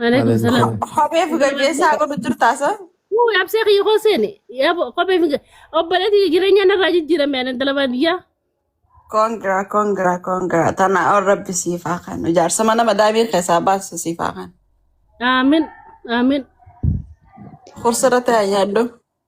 Alaikum salam. Alaikum. Kophee fi gaggeessaa godhu jirtaa sa? Wuu absee kiyya koo seene. Yaa kophee fi obboleetti jireenya narraa jijjiirame ani intala baadiyyaa. Kongira kongira kongira tana ol rabbi siif haa kennu jaarsa mana madaamii keessaa baasu siif haa kennu. Aamin aamin. Kursirratti haa yaaddu.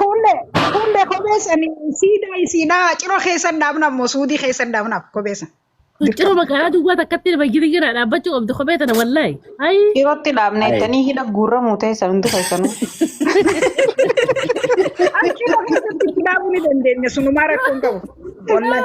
Kuullee kuullee kophee sanii siidaa isiidhaa ciro keessan dhaabna ammoo suudii keessan dhaabnaaf kophee san Ciro dirqama. magaalaa duwwaa takkatti nama giri giraa dhaabbachuu qabdi kophee tana wallaahi. Ayi. Dhirootti dhaabne Ayi. jettanii hidha guurramuu ta'e sabni keessanuu. As ciro keessatti itti dhaabuu ni dandeenya sunumaa rakkoo hin qabu. Wallahi.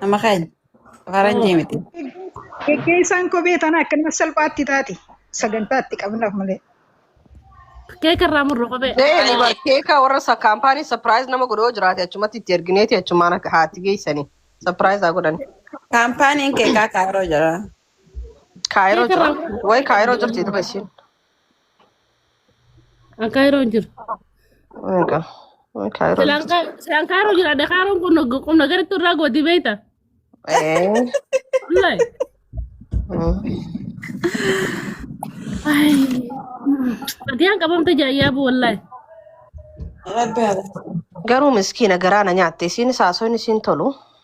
Nama keenya. Faranjii miti. Geggeessaan kophee tana akkanuma salphaatti taati. Sagantaa itti qabnaaf malee. Keeka irraa murru kophee. Deeni bar keeka warra sa kaampaanii sapiraayiz nama godhoo jiraate achumatti itti ergineeti achumaan akka haatti geessanii sapiraayiz haa godhan. Kaampaaniin keekaa kaayiroo jira. Kaayiroo Keeka jira. irraa murru. Way kaayiroo jirti dura ishiin. An kaayiroo hin jiru. Egaa kaayiroo Silaan jirti. kaa- silaan kaayiroo jira. Adda kaayiroon kun nag- qubna garitti irraa gooti beekta. Ee, Wallahi. mm. Ay. Fatiyaan qabamte jaayyaa bu wallahi. Rabbi haa laatu. Garuu miskiina garaana nyaatte isiin saasoon isiin tolu.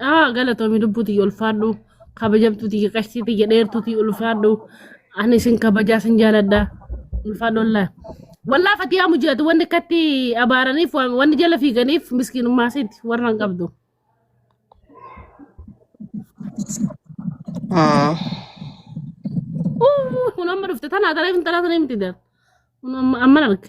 Ah, galatoomi lubbuu tiyya ulfaadhu. Kabajamtuu tiyya qashtii tiyya dheertuu tiyya ulfaadhu. Ani isin kabajaa isin jaaladha. Ulfaadhu wallaa. Wallaa fatiyaa mujaati wanni akkatti abaaraniif waan- wanni jala fiiganiif miskiinummaa isiiti warra hin qabdu. Ah, Uu, Kun amma dhufte tanaa tareef hin tanaa tanee miti dar. Kun amma amma arge.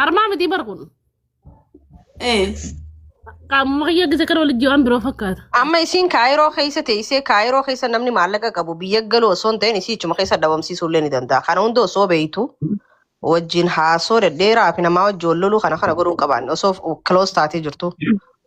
Harmaa mitii bar kun. Eh. Qaamuma kiyya gisa kana walitti waan biroo fakkaata. Amma isiin kaayiroo keessa teessee kaayiroo keessa namni maallaqa qabu biyya galuu osoo hin ta'in isii ichuma keessa dhabamsiisuu illee ni danda'a. Kana hunda osoo beektu wajjin haasoo dhedheeraa fi namaa wajjin wal loluu kana kana godhuu hin qabaanne osoo close taatee jirtu.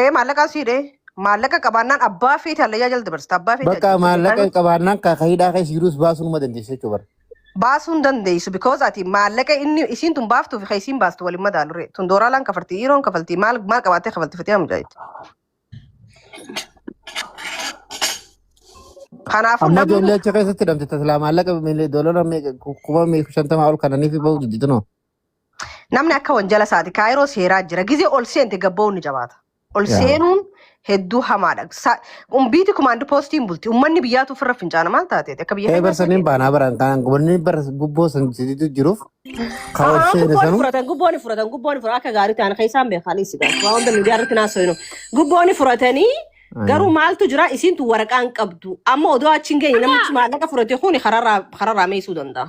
Ee maallaqa asii dhee maallaqa qabaannaan abbaa fi taallayyaa jala dabarsta abbaa fi Bakka taallayyaa maallaqa jala hin qabaannaan kaa hidhaa keessa jiruus baasuu numa dandeessa jechuudha bara. baasuu hin dandeessu because ati maallaqa inni isiin tun baaftuu fi kan isiin baastu waliin madaalu ree tun dooraalaan kafalti dhiiroon kafalti maal maal qabaattee kafalti fatee hamjaayitti. Kanaafuu Amma namni ijoollee achi keessatti hidhamte tasilaa maallaqa miilii doolaara meeqa kuma meeqa shantamaa ol kananiif bahu didinoo. Namni akka wanjala isaati kaayiroo seeraa jira. Gizee ol seente gabba'uun ni jabaata. Ol Yaa. seenuun hedduu hamaadha. Sa- Umbiiti kumaandi poostiin bulti. Ummanni biyyaatu ofirra fincaana maal taateeti? Akka biyya Ee keenyaa barsan hin baanaa baran kan gubanni bara gubboo san sidiitu jiruuf kan ol seene Gubboon sanu furatan, gubboon furatan, gubboon furatan akka gaarii ta'an keessaan beekan isin gaafatu. Waan hunda miidiyaa irratti naasoo hin Gubboon furatanii garuu maaltu jira isintu waraqaa hin qabdu. Amma odoo achi hin geenye namichi maallaqa furate kun kararraa kararraa meesuu danda'a.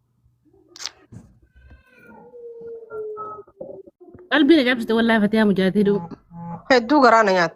Qalbii na cabsite wallaahi fatiyaa mujaatii duu. Hedduu garaa na nyaatti.